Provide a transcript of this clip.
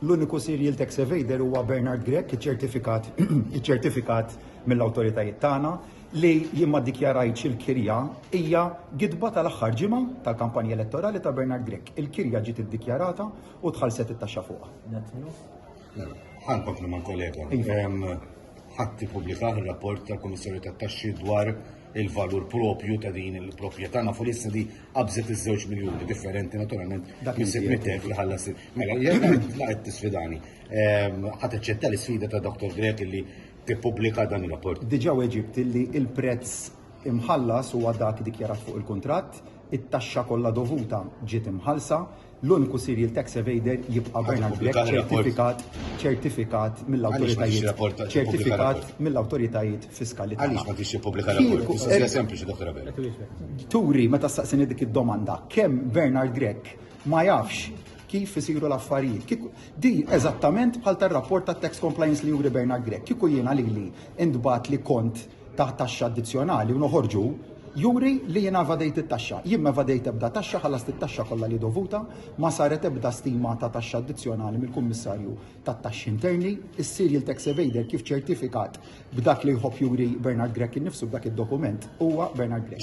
L-uniku serial tax evader huwa Bernard Grech, iċċertifikat iċċertifikat mill-awtoritajiet tagħna li jien ma ddikjarajtx il-kirja hija gidba tal-aħħar ġimgħa tal-kampanja elettorali ta' Bernard Grech. Il-kirja ġiet iddikjarata u tħallset it-taxxa fuqha. Ħankomplu ma' kollega. Iva. Ħadd ippubblikah ir-rapport tal-Kummissarju tat-Taxxi dwar il-valur propju ta' din il-proprjetà nafu li issa di qabżet iż-żewġ miljuni differenti naturalment dak il-sitt li ħallas. Mela, jekk la qed tisfidani, ehm, ħadd eċċetta l-isfida ta' Dr. Grek li tippubblika dan ir-rapport. Diġà weġibt li il-prezz imħallas huwa dak dikjarat fuq il-kuntratt, it-taxxa kollha dovuta ġiet imħallsa, L-uniku serial tax evader jibqa' Bernard Grech ċertifikat ċertifikat mill-awtoritajiet ċertifikat mill-awtoritajiet fiskali tagħna. Għaliex ma tix tippubblika rapport? Mistoqsija sempliċi, Dr. Abela. Turi meta staqsini dik id-domanda kemm Bernard Grech ma jafx kif isiru l-affarijiet. Di eżattament bħal tar-rapport tat-tax compliance li juri Bernard Grech. Kieku jiena lili intbat li kont ta' taxxa addizzjonali u noħorġu juri li jiena evadejt it-taxxa. Jien ma evadejt ebda taxxa, ħallast it-taxxa kollha li dovuta, ma saret ebda stima ta' taxxa addizzjonali mill-Kummissarju tat-Taxxi Interni. Is-serial tax evader kif ċertifikat b'dak li jħobb juri Bernard Grech innifsu b'dak id-dokument huwa Bernard Grech.